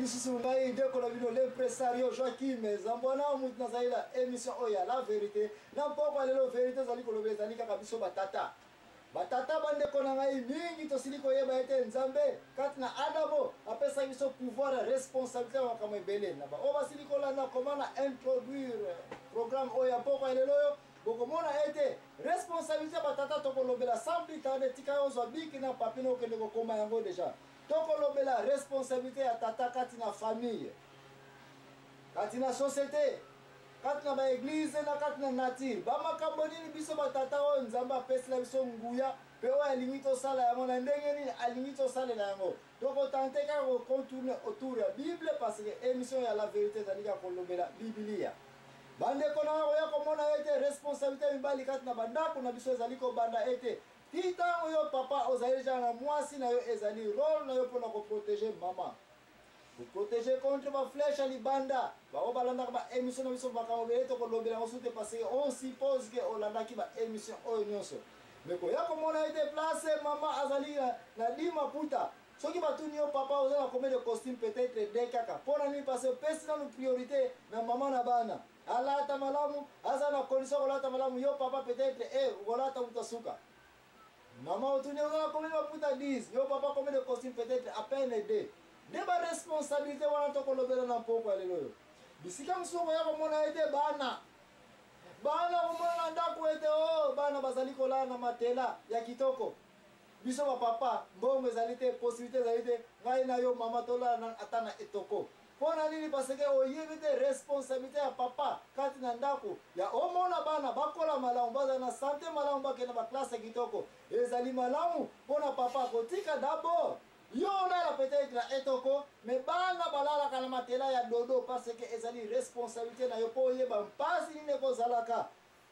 lisusu ngai ndeko na bino l'impresario joakim zambwana mutu nazali na émission oyo ya la vérité na mpoko ya lelo vérité ezali koloba ezali kaka biso batata batata bandeko na ngai mingi tosili koyeba ete nzambe kati na adamo apesaki biso pouvoir ya responsabilité ya makambo ebele na baoyo basili kolanda koma na introduire programme oyo ya mpoko ya lelo oyo bokomona ete responsabilité batata tokolobela sans plus tarde tika yo ozwa biki na papi na okende kokoma yango deja Tokolobela responsabilite ya tata kati na famille, kati na societe, kati na ba eglise na kati na nature. Ba makambo nini biso ba tata oyo Nzambe apesela biso nguya pe oyo alingi tosala yango na ndenge nini alingi tosalela yango. Toko tenter kaka ko contourner autour ya Bible parce que emission ya la verite ezali kaka kolobela Bibilia. Bandeko nanga koya komona ete responsabilite ya mibali kati na bandako na biso ezali kobanda ete Ti tango yo papa ozali dejà na muasi na yo ezali role na yo pona ko proteger maman. Ko proteger contre ba flèche ya libanda. Ba oyo balandaka ba emission na biso makambo ebele toko lobela yango sute parce que on suppose que olandaki ba emission oyo nionso. Mais koya komona ete place maman azali na, na di maputa soki batuni yo papa oza na combien de costume peut-être de kaka pona nini parce que opesi nanu priorité na maman na bana Alata malamu, aza na condition kolata malamu, yo papa peut-être eh okolata mutu asuka. Maman otuni oza na combien de maputa 10, yo papa combien de costume peut-être à peine 2. Nde ba responsabilité wana tokolobela na mpoko ya lelo oyo. Bisika mosusu okoya komona ete bana bana komona na ndako ete o oh, bana bazali kolala na matela ya kitoko biso bapapa mbongo ezali te posibilité ezali te ngai na yo mama tolala ata na etoko Pona nini parce que oyebi te responsabilite ya papa kati na ndaku ya omona bana bakola malamu bazala na sante malamu bakende na ba classe kitoko ezali malamu pona papa akotika dabord yo olala peut-etre na etoko mais bana balalaka na matela ya dodo parce que ezali responsabilite na yo po oyeba mpasi nini ekozalaka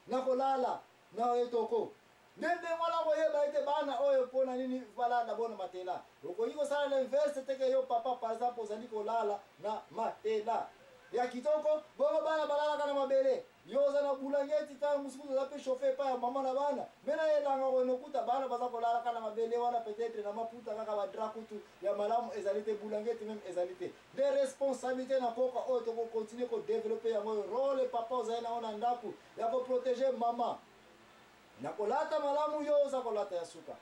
na kolala Na etoko. Nde ndenge wana okoyeba ete bana oyo mpo na nini balala na bona matela. Okoki kosala l'inverse te ke yo papa par exemple ozali kolala na matela ya kitoko bongo bana balalaka na mabele. Yo oza na bulangeti tango mosusu kutu oza mpe chauffer epai ya maman na bana mais na elanga okoki nokuta bana baza kolala kaka na mabele wana peut etre na maputa kaka ba drap kutu ya malamu ezali te bulangeti meme ezali te. Nde responsabilite na mpoka oyo toko continuer ko developper yango oyo role papa ozali na yango na ndaku ya ko proteger mama na kolata malamu yo oza kolata ya suka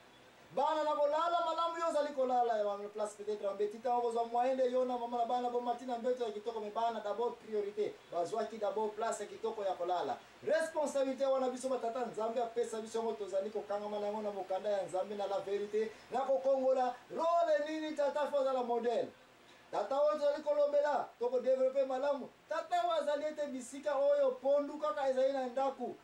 bana na kolala malamu yo ozali kolala ya place peut-être en beti ntango kozwa moyen nde yo na mama na bana bomati na mbeto ya kitoko me bana d'abord priorité bazwaki d'abord place ya kitoko ya kolala responsabilité wana biso batata nzambe apesa biso yango tozali kokangama na yango na mokanda ya nzambe na la verité na kokongola role nini tata fo azala modèle Tata oyo tozali kolobela, tokodevelope malamu tata oyo azali ete bisika oyo pondu kaka ezali na ndako.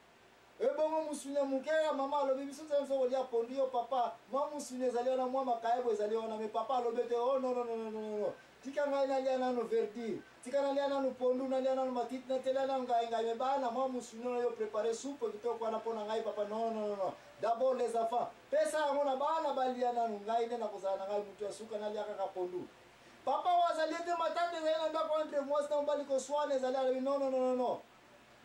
Ebongo mosuni ya moke ya mama alobi biso tozali biso kolia pondu yo papa mwa mosuni ezali wana mwa makayabo ezali wana me papa alobi ete oh, no, no, no, no, no, no. tika ngai nalia nano verdire tika nalia nano pondu nalia nano matiti natela nano ngai ngai me bana mwa mosuni oyo prepare supe kitoko wana mpo na ngai papa no, no, no, no. dabord les enfants Pesa yango na bana balia nanu ngai nde nakozala na ngai mutu ya suka nalia kaka pondu. Papa oyo azali ete matata ezali na ndako entre mwasi na mobali koswana ezali alobi non non non non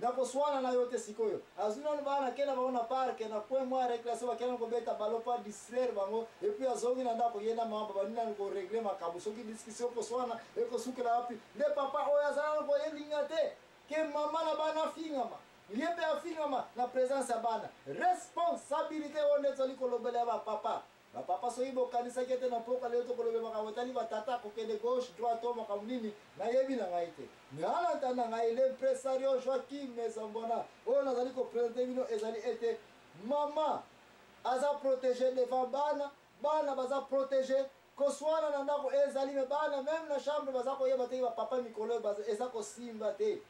nakoswana na yo te sikoyo azwi nanu bana akenda bango na parke na coin mwa reclasse bakenda nanu kobeta balo pa distraire bango epuis azongi na ndako ye na mama babandi nanu koregle makambo soki discussion koswana ekosukela wapi nde papa oyo azala nako elinga te ke mama na bana afingama Ye pe afingama na presence ya bana. Responsabilite oyo nde tozali kolobela ya ba papa. Ba papa soki bokanisaki ete na mpoka lelo tokolobela makambo etali ba tata kokende gauche, droite to makambo nini, nayebi na ngai te. Mais en attendant ngai l'impresario Joachim Mezambwana oyo nazali ko presenter bino ezali ete maman aza proteger devant bana, bana baza proteger, kosuana na ndako ezali mais bana meme na chambre baza koyeba te ke ba papa mikolo oyo eza kosimba te.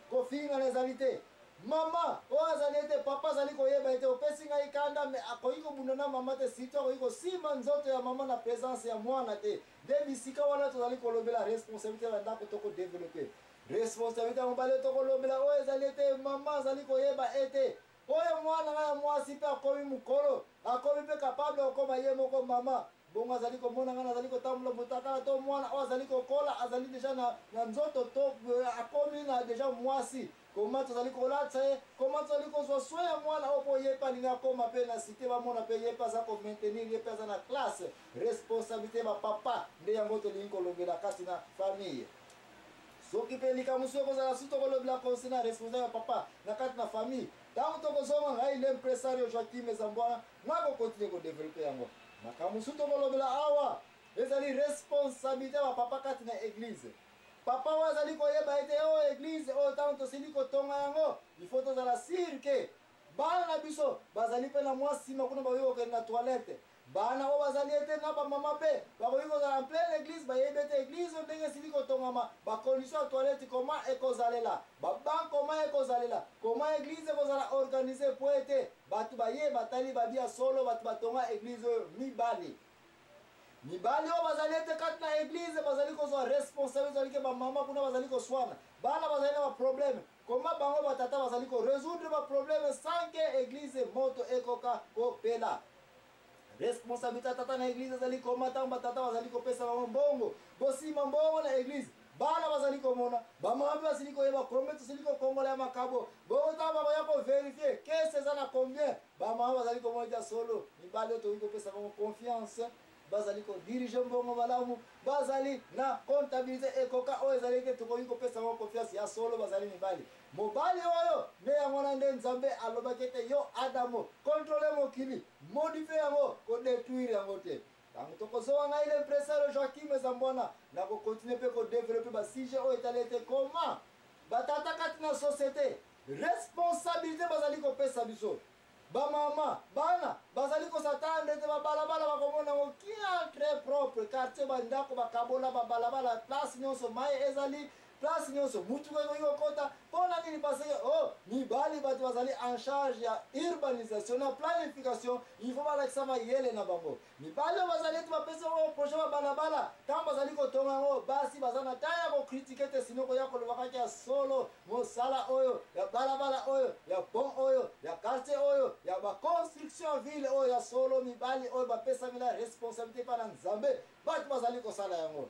Kofingana ezali te. Mama oyo azali ete papa azali koyeba ete opesi ngai kanda mais akoki kobunda na mama te surtout akoki kosimba nzoto ya mama na presence ya mwana te nde bisika wana tozali kolobela responsabilite ya ndako to ko developper responsabilite ya mobali tokolobela oyo ezali ete mama azali koyeba ete oyo mwana ngai ya mwasi mpe akomi mokolo akomi mpe capable okoma ye moko mama Bongo azali komona ngai nazali kotambola, motakala to mwana oyo azali kokola, azali deja na, na nzoto to eh, akomi na deja mwasi. Koma tozali kolatisa ye, koma tozali kozwa soin ya mwana oyo, mpo ye mpe alingi akoma mpe na site, bamona mpe ye mpe aza komaintenir, ye mpe aza na classe. Responsabilite ya bapapa nde yango tolingi kolobela kati na famille. soki mpe likambo mosusu ekozala susu tokolobela concernant responsable ya papa na kati na famille ntango tokozonga ngai le impresario joaquim ezambwana Moi bo continuer ko developper yango. Makambo mosusu tokolobela awa ezali responsabilite ya bapapa kati na eglize. Papa oyo azali koyeba ete oyo oh, eglize oyo oh, ntango tosili kotonga yango ifo tozala sire ke bana na biso bazali mpe na mwa nsima kuna bakoki kokende na toilette bana oyo bazali ete na bamama mpe bakoki kozala en pleine église bayebi ete église oyo ndenge esili kotongama bacondition ya toilette koma ekozalela babank koma ekozalela koma église ekozala organise mpo ete Batu baye batali babi ya solo batu batonga eglise oyo mibale. Mibali oyo bazali ete kati na eglise bazali kozwa responsabilite ezali ke bamama kuna bazali koswana. Bana bazali na baprobleme. Koma bango batata bazali ko resoudre baprobleme sans ke eglise moto ekoka kopela. Responsabilite ya tata na eglise ezali koma ntango batata bazali kopesa bango mbongo. Bosimba mbongo na eglise. Bana bazali komona, bamama mpe basili koyeba combien tosili kokongola ya makabo. Bongo ntango bakoya koverifie kese eza na combien, bamama bazali komona ja solo mibali oyo tokoki kopesa bango confiance bazali kodirige mbongo malamu, bazali na comptabilite ekoka oyo ezali ete tokoki kopesa bango confiance. Ya solo bazali mibali. Mobali oyo nde yango wana nde Nzambe alobaki ete yo Adamo controler mokili modifier yango ko detruire yango te. Tango toko zowa ngai l'impresare Joachim Zambwana nako continuer pe ko developper ba sujets oyo etali ete comment ba tata kati na societe responsabilite bazali ko pesa biso Ba mama, bana, bazali kosatanda ete ba balabala bakomona yango kiaa, tres propre, quartier ba ndako bakabola, ba balabala place nionso mayi ezali, place nionso mutuka ekoki kokota, pona nini parce que oh mibali batu bazali en charge ya urbanisation na planification il faut balakisa mayele na bango. Mibali oyo bazali ete bapesi bango projet ba balabala, tango bazali kotonga yango, basi baza na temps ya ko critiquer te, sinon koya koloba kaka ya solo, mosala oyo, ya balabala oyo, ya pont oyo, ya quartier oyo, ya ba constructions ya ville oyo, ya solo mibali oyo bapesami na responsabilite epai na Nzambe, batu bazali kosala yango.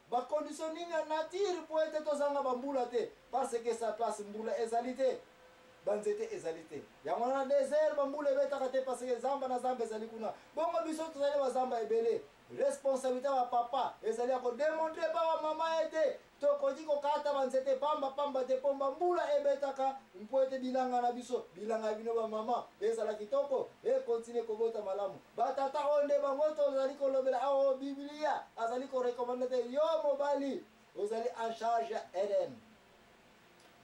Ba conditioning ya nature po ete tozanga ba mbula te parce que sa place mbula ezali te ba nzete ezali te yango wana desert ba mbula ebetaka te parce que zamba na zamba ezali kuna bongo biso tozali ba zamba ebele responsabilité ya papa ezali ya kodemontre epa ba mama ete tokoki kokata ba nzete pamba pamba te mpo ba mbula ebetaka mpo ete bilanga na biso bilanga ya bino ba mama ezala kitoko ekontinue kobota malamu Ba tata oyo nde bango tozali kolobela awa oyo Biblia azali ko recommande te yo mobali ozali en charge ya RN.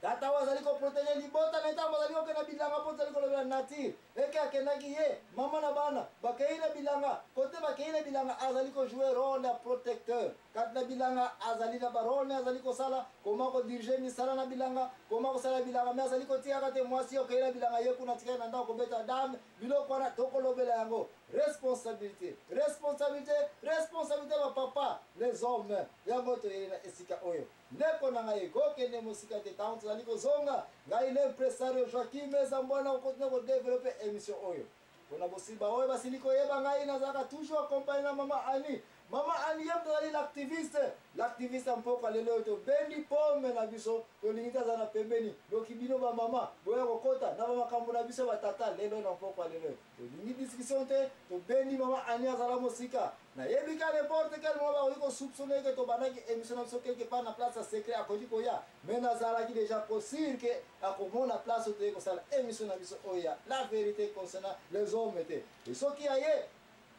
Tata oyo azali ko protéger libota na ntango azali kokenda bilanga mpo tozali kolobela nature eke akendaki ye mama na bana bakei na bilanga kote bakei na bilanga azali ko jouer role ya protecteur kati na bilanga azali na barole me azali kosala koma kodirige misala na bilanga koma kosala bilanga me azali kotikaka te mwasi okei na bilanga ye kuna tikali na ndako kobeta dame Biloko wana toko lobela yango responsabilite responsabilite responsabilite ba papa les hommes yango toyeli na esika oyo ndeko na ngai ko kende mosika te tango tozali kozonga ngai l'impresario Joaquim Ezambwana ko continue ko developper emission oyo pona bosiba oyo basili koyeba ngai nazalaka toujours accompagne na mama Annie Maman Aliem tozali l'activiste, l'activiste ya mpoka lelo oyo tobendi pome na biso, tolingi te aza na pembeni. Doki bino ba mama boya kokota na ba makambo na biso ba tata lelo na mpokwa lelo. Tolingi discussion te, tobendi mama Annie azala mosika. Nayebi ka n'importe quel moment bakoki ko soupçonner que tobandaki emission na biso quelque part na place ya secret akoki koya, mais nazalaki deja ko sur que akomona place oyo toyei kosala emission na biso oyo ya la verite concernant les hommes te. Et soki aye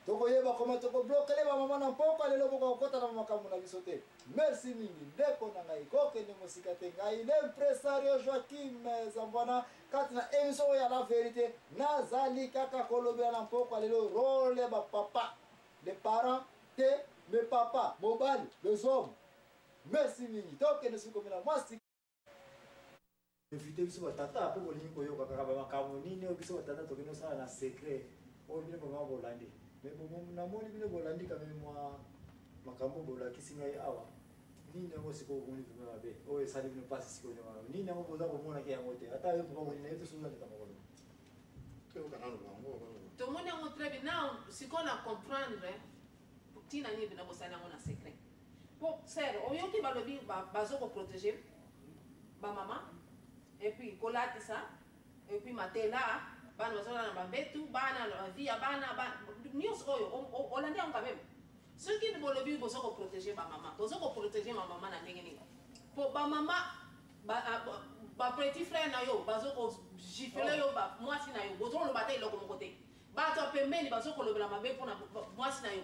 Toko yeba comment toko bloquer ba maman na mpokwa lelo boko kokota na makambo na biso te. Merci mingi ndeko na ngai ko kende mosika te ngai l'impresario Joaquim Zambwana kati na emission oyo ya la verite nazali kaka kolobela na mpokwa lelo role ya ba papa les parents te mais papa mobali les hommes. Merci mingi tokende soki komela mwasi evite biso batata mpe bolingi koyoka kaka bamakambo nini oyo biso batata tokende osala na secret oyo bino bama bolandi me namoni bino bolandi kame mwa makambo bolakisi ngai awa nini yango sikoyo omoni vrima mabe oyo esali bino mpasi sikoyo nyamana nini yango boza komonaki yango te ata yo vrima olina ye tosoza leta makolo tomoni yango très bien na sikoyo na comprendre ntina nini bino bosali yango na secret Po sœur oyoki balobi bazo ko proteger ba mama et puis kolatisa et puis matela bana bazolala na bambetu bana na vie ya bana nyonso oyo olandi yango quand même soki bolobi bozo ko proteger ba mama bozo ko proteger ma mama na ndenge nini po ba mama ba petit frère na yo bazo ko gifler yo ba mwasi na yo bozo koloba ata eloko moko te bato ya pembeni bazo kolobela mabe mpo na mwasi na yo